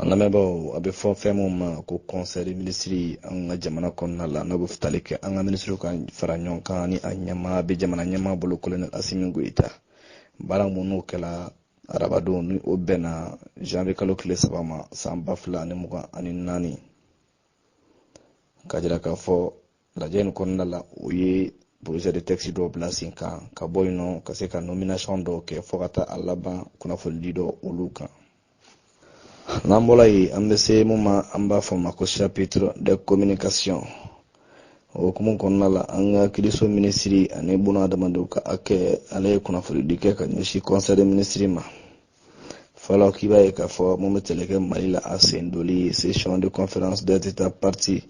an lamɛnbaaw a bɛ fɔ fɛn min ma ko conseil de minisiri an ka jamana kɔnɔna la n'o bɛ tali kɛ an ka minisiriw ka fara ɲɔgɔn kan ni a ɲɛmaa bɛ jamana ɲɛmaa bolo kolonɛli asimi goyita baara minnu kɛla arabadon ni o bɛnna janvier kalo tile saba ma san ba fila ani mugan ani naani ka jira k'a fɔ lajɛ in kɔnɔna la o ye projet de texte dɔw bila sen kan ka bɔ yen nɔ ka se ka nomination dɔw kɛ fo ka taa a laban kunnafonidi dɔ olu kan n'an bɔla yen an bɛ se mun ma an b'a fɔ ma ko chapitre de communication o hukumu kɔnɔna la an ka kiiriso minisiri ani bunadamadenw ka hakɛ ale ye kunnafonidi kɛ ka ɲɛsin conseil de minisiri ma fɔlɔ k'i b'a ye k'a fɔ mun bɛ tali kɛ mali la a sen doli session de conférence des états parties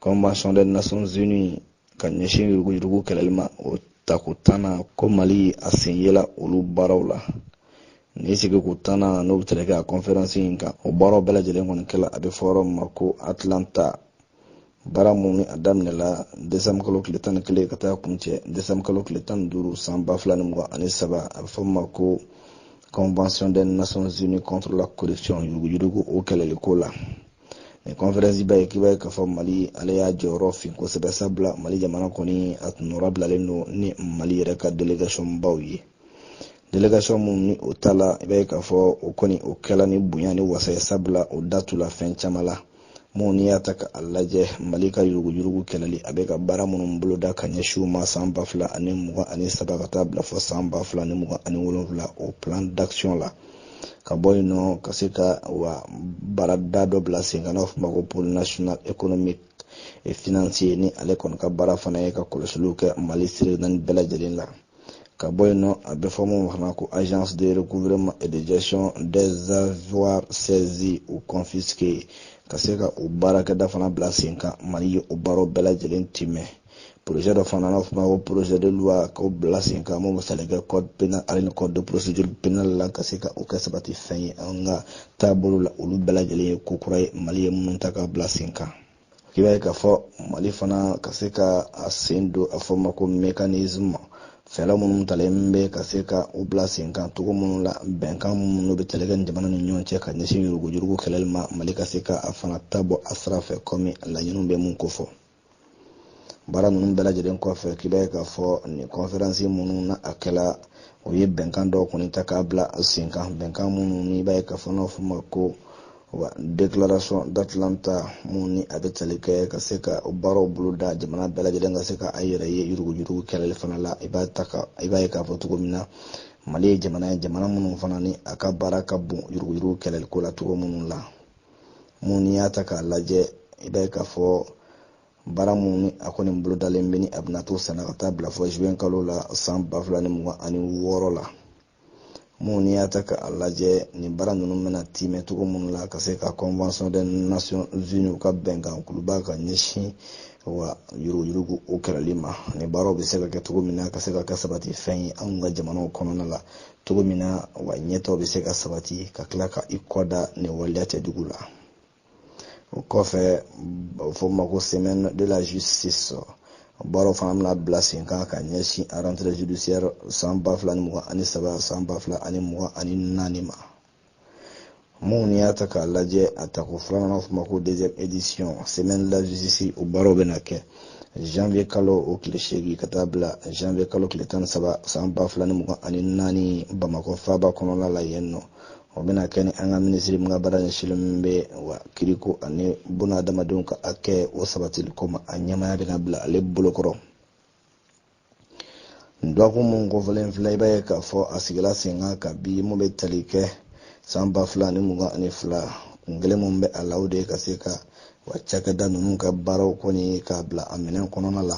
convention des nations unies ka ɲɛsin yuruguyurugu kɛlɛli ma o tako tannan ko mali a sen yela olu baaraw la nin sigiko tannan n'o bɛ tali kɛ a conférence in kan o baaraw bɛɛ lajɛlen kɔni kɛla a bɛ fɔ yɔrɔ min ma ko atlanta baara mun ni a daminɛla desanbu kalo tile tan ni kelen ka taa kuncɛ desanbu kalo tile tan ni duuru san ba fila ni mugan ani saba a bɛ fɔ ma ko convention des nations unies contre la corruption yuruguyurugu o kɛlɛli ko la nin kɔnferansi b'a ye k'i b'a ye k'a fɔ mali ale y'a jɔyɔrɔ fin kosɛbɛ sabula mali jamana kɔni a tun nɔrɔ bilalen don ni mali yɛrɛ ka délégation baw ye délégation mun ni o taala i b'a ye k'a fɔ o kɔni o kɛla ni bonya ni wasa ye sabula o datula fɛn caman la mun n'i y'a ta ka a lajɛ mali ka yuruguyurugu kɛlɛli a bɛ ka baara minnu boloda ka ɲɛsin u ma san ba fila ani mugan ani saba ka taa bila fo san ba fila ni mugan ani wolonwula o plan d'action la ka bɔ yen nɔ ka se ka wa baarada dɔ bila sen kan n'a fɔ ma ko pôle national économique et financier ni ale kɔni ka baara fana ye ka kɔlɔsiliw kɛ mali sira naani bɛɛ lajɛlen la ka bɔ yen nɔ a bɛ fɔ mun fana ko agence de recouvrement et de gestion des avoirs saisis ou confisqués ka se ka o baarakɛda fana bila sen kan mali ye o baaraw bɛɛ lajɛlen tiimɛ projet dɔ fana n'a fɔ ma ko projet de loi k'o bila sen kan mun bɛ tali kɛ code pénal ale ni code de procédure pénale la ka se ka o kɛ sabati fɛn ye an ka taabolo la olu bɛɛ lajɛlen ye ko kura ye mali ye minnu ta ka bila sen kan i b'a ye k'a fɔ mali fana ka se ka a sen don a fɔ ma ko mécanisme fɛɛrɛ minnu talen bɛ ka se ka u bila senkan cogo minnu la bɛnkan minnu bɛ tali kɛ ni jamana ni ɲɔgɔn cɛ ka ɲɛsin yuruguyurugu kɛlɛli ma mali ka se ka a fana ta bɔ a sira fɛ kɔmi laɲiniw bɛ mun kofɔ baara ninnu bɛɛ lajɛlen kɔfɛ k'i b'a ye k'a fɔ nin kɔnferansi minnu na a kɛla o ye bɛnkan dɔw kɔni ta k'a bila senkan bɛnkan minnu n'i b'a ye k'a fɔ n'a fɔ ma ko wa déclaration d'atlanta mun ni a bɛ tali kɛ ka se ka baaraw bolo da jamana bɛɛ lajɛlen ka se ka a yɛrɛ ye yuruguyurugu kɛlɛli fana la i b'a ta ka i b'a ye k'a fɔ cogo min na mali ye jamana ye jamana minnu fana ni a ka baara ka bon yuruguyurugu kɛlɛli ko la cogo minnu la mun n'i y'a ta k'a lajɛ i b'a ye k'a fɔ baara minnu ni a kɔni bolodalen bɛ ni a bɛna to senna ka taa bila fɔ juin kalo la san ba fila ni mugan ani wɔɔrɔ la mun n'i y'a ta ka a lajɛ nin baara ninnu bɛna tiimɛ cogo minnu la ka se ka convention des nations unies ka bɛnkan kuluba ka ɲɛsin wa yuruguyurugu o kɛlɛli ma nin baaraw bɛ se ka kɛ cogo min na ka se ka kɛ sabati fɛn ye anw ka jamanaw kɔnɔna la cogo min na wa ɲɛtaaw bɛ se ka sabati ka tila ka i kɔda nin waleya cɛjugu la o kɔfɛ fɔ ma ko semaine de la justice o baaraw fana bɛna bila sen kan ka ɲɛsin rentrée judiciaire san ba fila ni mugan ani saba san ba fila ani mugan ani naani ma mun n'i y'a ta k'a lajɛ a tako filanan fɔ ma ko deuxième édition semaine de la justice o baaraw bɛna kɛ janvier kalo o tile seegin ka taa bila janvier kalo tile tan ni saba san ba fila ni mugan ani naani bamakɔ faaba kɔnɔna la yen nɔ o bɛna kɛ ni an ka minisiri min ka baara ɲɛsinlen min bɛ wa kiriko ani buna adamadenw ka hakɛ o sabatili ko ma a ɲɛmaaya bɛna bila ale bolo kɔrɔ dɔgɔkun mun kofɔlen filɛ i b'a ye k'a fɔ a sigila sen kan kabi mun bɛ tali kɛ san ba fila ani mugan ani fila kun kelen mun bɛ a la o de ye ka se ka wa cakɛda ninnu ka baaraw kɔni k'a bila a minɛn kɔnɔna la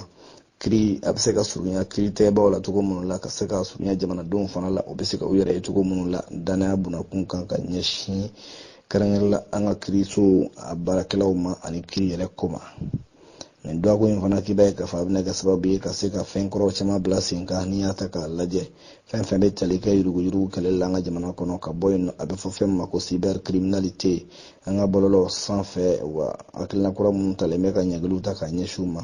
kiri a bɛ se ka surunya kiritigɛbaw la cogo minnu la ka se ka surunya jamanadenw fana la o bɛ se ka u yɛrɛ ye cogo minnu la danaya bunakun kan ka ɲɛsin kɛrɛnkɛrɛn la an ka kirisow a baarakɛlaw ma ani kiri yɛrɛ ko ma nin dɔgɔkun in fana k'i b'a ye k'a fɔ a bɛna kɛ sababu ye ka se ka fɛn kuraw caman bila sen kan n'i y'a ta k'a lajɛ fɛn fɛn bɛ tali kɛ yuruguyurugu kɛlɛli la an ka jamana kɔnɔ ka bɔ yen nɔ a bɛ fɔ fɛn min ma ko cybercriminalité an ka bɔlɔlɔ sanfɛ wa hakilina kura minnu talen bɛ ka ɲangiliw ta k'a ɲɛsin u ma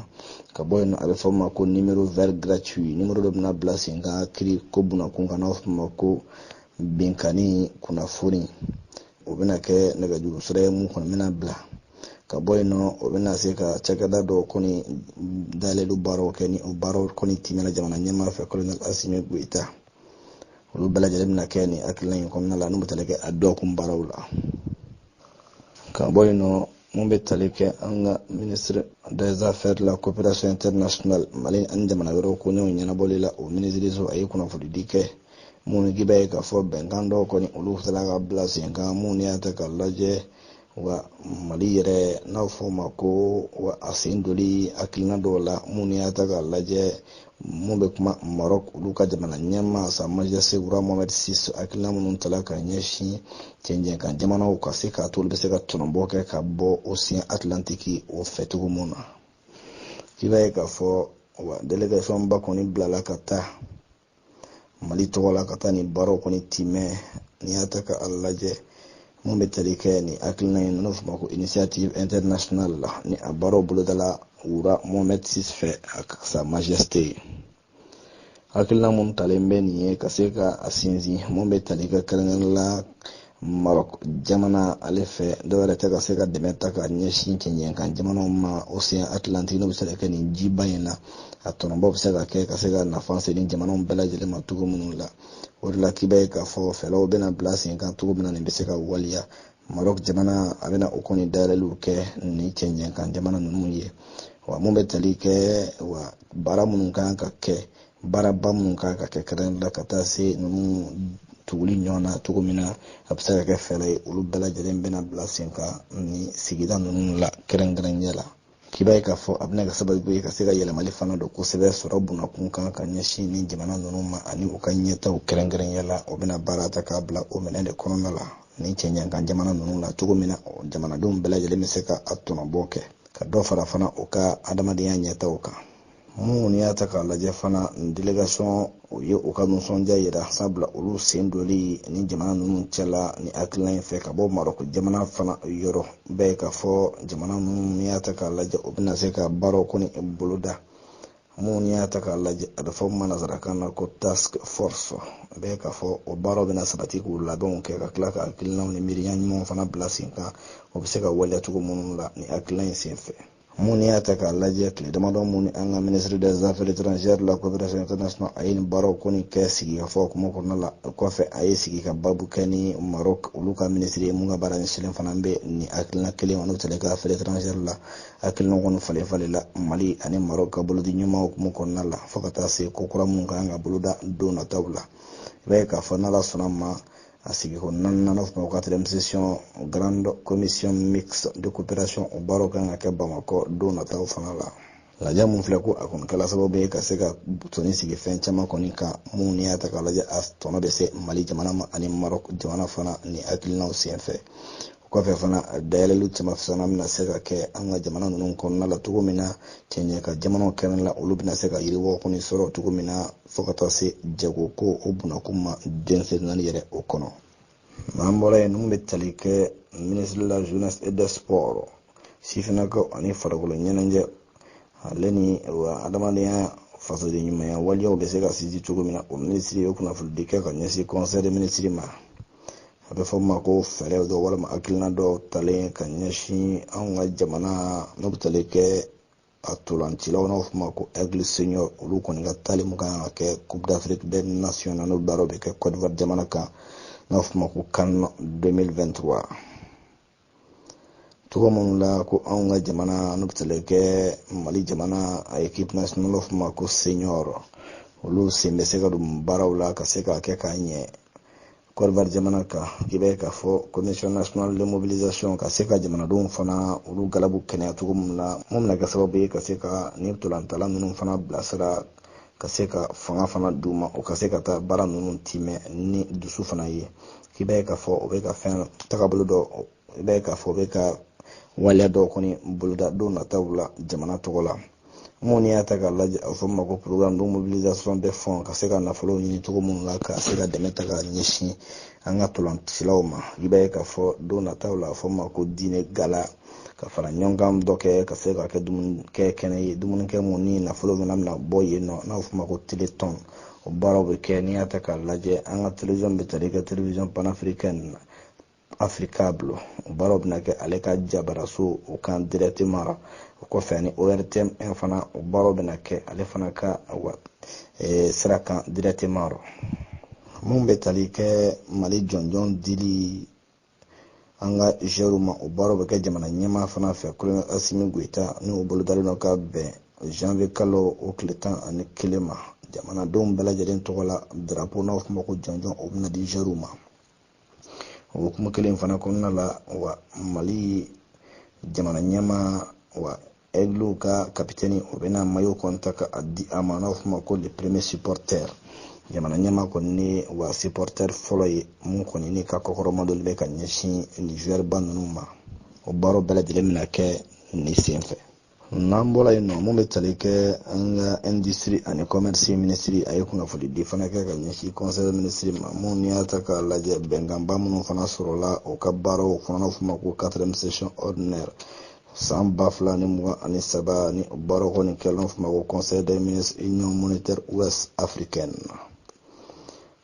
ka bɔ yen nɔ a bɛ fɔ ma ko numéro vert gratuit numéro dɔ bɛna bila sen kan kiri ko bunakun kan n'a fɔ ma ko binkanni kunnafoni o bɛna kɛ nɛgɛjuru sira ye mun kɔni bɛna bila ka bɔ yen nɔ o bɛna se ka cakɛda dɔ kɔni dayɛlɛli baaraw kɛ ni o baaraw kɔni tɛmɛna jamana ɲɛmaa fɛ kolonɛli asimi goyita olu bɛɛ lajɛlen bɛna kɛ nin hakilina in kɔnɔna la n'u bɛ tali kɛ a dɔgɔkun baaraw la ka bɔ yen nɔ mun bɛ tali kɛ an ka minisiri des affaires de la coopération internationale mali ani jamana wɛrɛw koɲɛw ɲɛnabɔli la o minisiriso a ye kunnafonidi kɛ mun ni k'i b'a ye k'a fɔ bɛnkan dɔw kɔni olu sera ka bila sen kan mun n'i y'a ta k'a lajɛ wa mali yɛrɛ n'a fɔ ma ko wa a sen doli hakilina dɔw la minnu y'a ta k'a lajɛ mun bɛ kuma maroc olu ka jamana ɲɛmaa sa majesté roi mohammed six hakilina minnu tala ka ɲɛsin cɛncɛn kan jamanaw ka se k'a to olu bɛ se ka tɔnɔbɔ kɛ ka bɔ océan atlantique o fɛ cogo mun na k'i b'a ye k'a fɔ wa délégation ba kɔni bilala ka taa mali tɔgɔ la ka taa nin baaraw kɔni timɛ n'i y'a ta ka a lajɛ mun bɛ tali kɛ nin hakilina in n'o fɔ ma ko initiative internationale la ni a baaraw bolodala roi mohammed six fɛ a ka sa majesté ye hakilina mun talen bɛ nin ye ka se ka a sinsin mun bɛ tali kɛ kɛrɛnkɛrɛnnenya la Maroc jamana ale fɛ dɔwɛrɛ tɛ ka se ka dɛmɛ ta ka ɲɛsin cɛncɛn kan jamanaw ma océan atlantique n'o bɛ se ka kɛ nin jiba in na a tɔnɔbɔ bɛ se ka kɛ ka se ka nafa se nin jamanaw bɛɛ lajɛlen ma cogo minnu la o de la k'i b'a ye k'a fɔ fɛɛrɛw bɛna bila sen kan cogo min na nin bɛ se ka waliya Maroc jamana a bɛna o kɔni dayɛlɛliw kɛ ni cɛncɛn kan jamana ninnu ye wa mun bɛ tali kɛ wa baara minnu kan ka kɛ baaraba minnu kan ka kɛ kɛrɛnkɛrɛnnen la ka taa se ninnu tuguli ɲɔgɔn na cogo min na a bɛ se ka kɛ fɛɛrɛ ye olu bɛɛ lajɛlen bɛna bila sen kan ni sigida ninnu la kɛrɛnkɛrɛnnenya la k'i b'a ye k'a fɔ a bɛna kɛ sababu ye ka se ka yɛlɛmali fana don kosɛbɛ sɔrɔ bunakun kan ka ɲɛsin ni jamana ninnu ma ani u ka ɲɛtaw kɛrɛnkɛrɛnnenya la o bɛna baara ta k'a bila o minɛn de kɔnɔna la ni cɛncɛn kan jamana ninnu na cogo min na jamanadenw bɛɛ lajɛlen bɛ se ka a tɔnɔbɔ kɛ ka dɔ fara fana u ka adamadenya ɲɛtaw kan mun n'i y'a ta k'a lajɛ fana délégation o ye u ka nisɔndiya yira sabula olu sen doli ni jamana ninnu cɛla ni hakilina in fɛ ka bɔ maroc jamana fana yɔrɔ b'a ye k'a fɔ jamana ninnu y'a ta k'a lajɛ u bɛna se ka baaraw kɔni boloda mun y'a ta k'a lajɛ a bɛ fɔ min ma nanzarakan na ko task force i b'a ye k'a fɔ o baaraw bɛna sabati k'u labɛnw kɛ ka tila ka hakilinaw ni miiriya ɲumanw fana bila sen kan o bɛ se ka waleya cogo minnu la ni hakilina in sen fɛ mun n'i y'a ta k'a lajɛ tile damadɔ mun ni an ka ministre des affaires étrangères de la coopération internationale a ye nin baaraw kɔni kɛ sigikafɔ hukumu kɔnɔna la kɔfɛ a ye sigi ka babu kɛ ni maroc olu ka minisiri ye mun ka baara ɲɛsilen fana bɛ nin hakilina kelen kɔni tɛle ka affaires étrangères la hakilina kɔni falen falen la mali ani maroc ka bolodiɲɔgɔnma hukumu kɔnɔna la fo ka taa se ko kura mun ka kan ka boloda don nataw la i b'a ye k'a fɔ n'ala sɔnna ma a sigiko naaninan n'o fɔ ma ko quatrième session grande commission mixte de coopération o baaraw kan ka kɛ bamakɔ don nataw fana la lajɛ mun filɛ ko a kɔni kɛla sababu ye ka se ka tɔni sigi fɛn caman kɔni kan minnu n'i y'a ta k'a lajɛ a tɔnɔ bɛ se mali jamana ma ani maroc jamana fana ni hakilinaw senfɛ kɔfɛ fana dayɛlɛli caman fana bɛna se ka kɛ an ka jamana ninnu kɔnɔna la cogo min na cɛncɛn kan jamanaw kɛrɛn la olu bɛna se ka yiriwa kɔni sɔrɔ cogo min na fo ka taa se jago ko o bunakun ma denmisɛn naani yɛrɛ o kɔnɔ n'an bɔra yen ninnu bɛ tali kɛ minisiri de la jeunesse et des sports sifinnakaw ani farikolo ɲɛnajɛ ale ni wa adamadenya fasoden ɲumanya waleyaw bɛ se ka sinsin cogo min na o minisiri ye kunnafonidi kɛ ka ɲɛsin conseil des ministres ma a bɛ fɔ ma ko fɛɛrɛw dɔ walima hakilina dɔw talen ka ɲɛsin anw ka jamana n'o bɛ tali kɛ a ntolancilaw n'o f'o ma ko aigle senior olu kɔni ka taali mun kan ka kɛ coupe d'afrique des nations na n'o baaraw bɛ kɛ cote d'ivoire jamana kan n'o f'o ma ko can 2023 cogo minnu la ko anw ka jamana n'o bɛ tali kɛ mali jamana a ekipe nationale f'o ma ko senior olu sen bɛ se ka don baaraw la ka se k'a kɛ k'a ɲɛ cote d'ivoire jamana kan k'i b'a ye k'a fɔ commission nationale de mobilisation ka se ka jamanadenw fana olu galabu kɛnɛya cogo min na mun bɛna kɛ sababu ye ka se ka nin ntolantala ninnu fana bilasira ka se ka fanga fana d'u ma u ka se ka taa baara ninnu timɛ ni dusu fana ye k'i b'a ye k'a fɔ u bɛ ka fɛn tagabolo dɔ i b'a ye k'a fɔ u bɛ ka waleya dɔw kɔni boloda don nataw la jamana tɔgɔ la mun n'i y'a ta k'a lajɛ a fɔ ma ko programme de mobilisation des fonds ka se ka nafolo ɲini cogo minnu la ka se ka dɛmɛ ta ka ɲɛsin an ka tolancilaw ma i b'a ye k'a fɔ don nataw la a fɔ ma ko diner gala ka faraɲɔgɔnkan dɔ kɛ ka se ka kɛ dumunikɛ kɛnɛ ye dumunikɛ mun ni nafolo fana bɛna bɔ yen nɔ n'a fɔ ma ko telethon o baaraw bɛ kɛ n'i y'a ta k'a lajɛ an ka television bɛ tali kɛ television panafricaine na africable o baaraw bɛna kɛ ale ka jabaraso o kan directement o kɔfɛ ani ortm fana o baaraw bɛna kɛ ale fana ka e, sira kan directement mun bɛ tali kɛ mali jɔnjɔn dili an ka joueurw ma o baaraw bɛ kɛ jamana ɲɛmaa fana fɛ kolonɛli asimi goyita n'o bolodalen don ka bɛn janvier kalo o tile tan ani kelen ma jamanadenw bɛɛ lajɛlen tɔgɔ la darapo n'aw f'o ma ko jɔnjɔn o bɛna di joueurw ma o hukumu kelen fana kɔnɔna la wa mali jamana ɲɛmaa wa ɛgliw ka kapitɛni o bɛna mayo kɔni ta ka a di a ma n'aw f'o ma ko le premier supporter jamana ɲɛmaa kɔni ni wa supporter fɔlɔ ye mun kɔni ni ka kɔkɔrɔmadonli bɛ ka ɲɛsin nin joueur ba ninnu ma o baaraw bɛɛ lajɛlen bɛna kɛ nin sen fɛ n'an bɔra yen nɔ mun bɛ tali kɛ an ka industrie ani commerce minisiri a ye kunnafoni di fana kɛ ka ɲɛsin conseil minisiri ma mun n'i y'a ta k'a lajɛ bɛnkanba minnu fana sɔrɔla u ka baaraw fana n'o f'o ma ko quatrième session ordinaire san ba fila ni mugan ani saba ni baaraw kɔni kɛlen f'o ma ko conseil des ministres union monétaire ouest africaine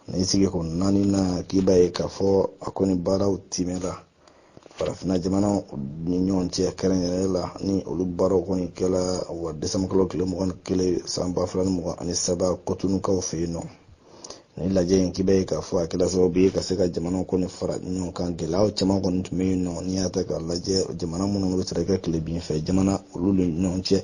ni sigiko naaninan k'i b'a ye k'a fɔ a kɔni baaraw timɛra farafinna jamanaw ni ɲɔgɔn cɛ kɛrɛnkɛrɛnnen la ni olu baaraw kɔni kɛla wa desanburukalo tile mugan ni kelen san ba fila ni mugan ani saba kotonukaw fɛ yen nɔ ni lajɛ in k'i b'a ye k'a fɔ a kɛla sababu ye ka se ka jamanaw kɔni fara ɲɔgɔn kan gɛlɛyaw caman kɔni tun bɛ yen nɔ n'i y'a ta k'a lajɛ jamana minnu bɛ tali kɛ tilebin fɛ jamana olu ni ɲɔgɔn cɛ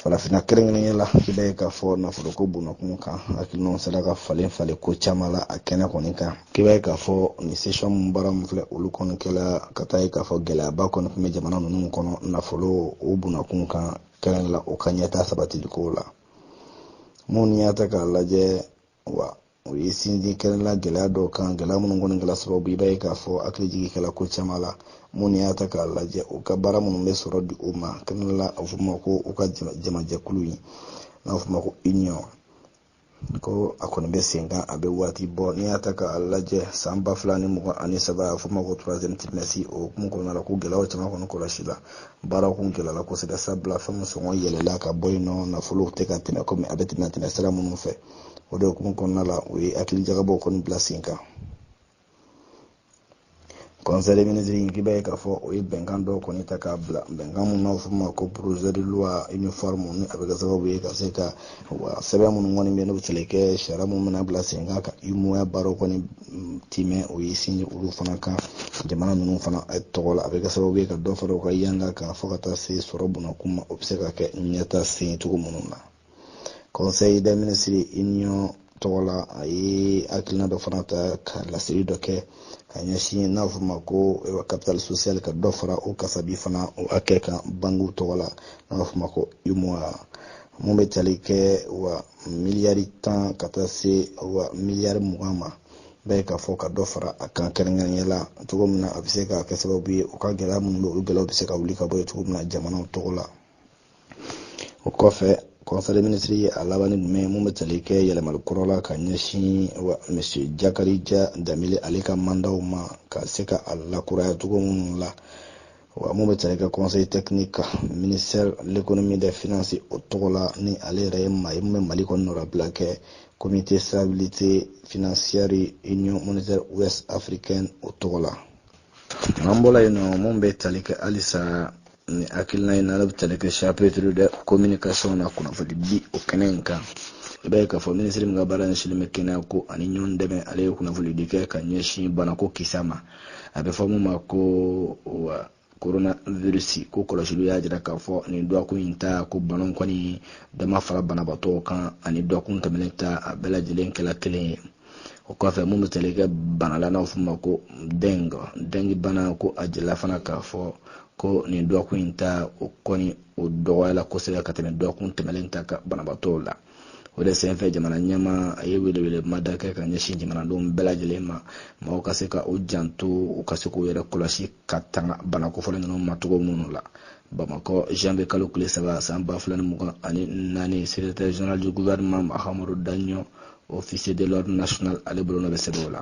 farafinna kɛrɛnkɛrɛnya la k'i b'a ye k'a fɔ nafolo ko bonnakun kan hakilinaw sera ka falen falen ko caman la a kɛnɛ kɔni kan k'i b'a ye k'a fɔ nin session min baara min filɛ olu kɔni kɛla ka taa ye k'a fɔ gɛlɛyaba kɔni tun bɛ jamana ninnu kɔnɔ nafolo o bonnakun kan kɛrɛnkɛrɛn la o ka ɲɛtaa sabatiliko la mun n'i y'a ta k'a lajɛ wa o ye sinsin kɛrɛnla gɛlɛya dɔw kan gɛlɛya minnu kɔni kɛla sababu i b'a ye k'a fɔ hakili jigi kɛla ko caman la mun n'i y'a ta k'a lajɛ u ka baara minnu bɛ sɔrɔ di o ma kɛrɛnla a fɔ ma ko u ka jamajɛkulu in n'a fɔ ma ko union ko a kɔni bɛ sen kan a bɛ waati bɔ n'i y'a ta k'a lajɛ san ba fila ni mugan ani saba a fɔ ma ko troisième trimestre o hukumu kɔnɔna la ko gɛlɛyaw caman kɔni kɔlɔsila baaraw kun gɛlɛyala kosɛbɛ sabula fɛn min sɔngɔ yɛlɛla ka bɔ yen nɔ nafolow tɛ ka tɛmɛ komi a bɛ tɛmɛ tɛmɛ sira minnu fɛ o de hukumu kɔnɔna la u ye hakili jagabɔ kɔni bila sen kan kɔnsɛyi minisiri in k'i b'a ye k'a fɔ o ye bɛnkan dɔw kɔni ta k'a bila bɛnkan mun n'a fɔ ma ko projet de loi uniforme ni a bɛ kɛ sababu ye ka se ka wa sɛbɛn minnu kɔni bɛ yen n'o bɛ se ka kɛ sariya mun bɛna bila sen kan ka umoa baaraw kɔni mm, timɛ o ye sinsin olu fana kan jamana ninnu fana eh, tɔgɔ la a bɛ kɛ sababu ye ka dɔ fara u ka yanga kan fo ka taa se sɔrɔ bonnakun ma o bɛ se ka kɛ ɲɛtaa sen cogo minnu na kɔnsɛyi dɛ minisiri union tɔgɔ la a ye hakilina dɔ fana ta ka laseli dɔ kɛ ka ɲɛsin n'a fɔ ma ko capital social ka dɔ fara o kasabi fana o hakɛ kan bankiw tɔgɔ la n'a b'a fɔ ma ko umoa mun bɛ tali kɛ wa miliyari tan ka taa se wa miliyari mugan ma i b'a ye k'a fɔ ka dɔ fara a kan kɛrɛnkɛrɛnya la cogo min na a bɛ se ka kɛ sababu ye u ka gɛlɛya minnu bɛ olu gɛlɛyaw bɛ se ka wuli ka bɔ yen cogo min na jamanaw tɔgɔ la o kɔfɛ kɔnsɛyi minisiri ye a laban ni jumɛn ye mun bɛ tali kɛ yɛlɛmali kura la ka ɲɛsin wa monsieur jakarija danbele ale ka mandaw ma ka se ka a lakuraya cogo minnu la wa mun bɛ tali kɛ conseiller technique kan ministère l'économie des finances o tɔgɔ la ni ale yɛrɛ ye maa ye mun bɛ mali kɔni nɔrabila kɛ comité stabilité financière union monétaire ouest africaine o tɔgɔ la n'an bɔra yen nɔ mun bɛ tali kɛ halisa ni hakilina in na ale bɛ tali kɛ chapitre de communication na kunnafoni di o kɛnɛ in kan i b'a ye k'a fɔ minisiri min ka baara ɲɛsinnen bɛ kɛnɛya ko ani ɲɔgɔn dɛmɛ ale ye kunnafoni di kɛ ka ɲɛsin banako kisɛ ma a bɛ fɔ min ma ko wa coronavirus ko kɔlɔsiliw y'a jira k'a fɔ nin dɔgɔkun in ta ko bana kɔni dɔ ma fara banabaatɔw kan ani dɔgɔkun tɛmɛnen ta a bɛɛ lajɛlen kɛla kelen ye o kɔfɛ mun bɛ tali kɛ bana la n'aw f'o ma ko deng dengue bana ko a jirala fana k'a fɔ ko nin dɔgɔkun in ta o kɔni o dɔgɔyala kosɛbɛ ka tɛmɛ dɔgɔkun tɛmɛlen ta kan banabaatɔw la o de senfɛ jamana ɲɛmaa ye welewele mada kɛ ka ɲɛsin jamanadenw bɛɛ lajɛlen ma mɔgɔw ka se ka u janto u ka se k'u yɛrɛ kɔlɔsi ka tanga bana kofɔlen ninnu ma cogo minnu la bamakɔ janvier kalo tile saba san ba fila ni mugan ani naani secrétaire général du gouvernement mahamadu daɲɔ officier de l'ordre national ale bolonɔ bɛ sɛbɛn o la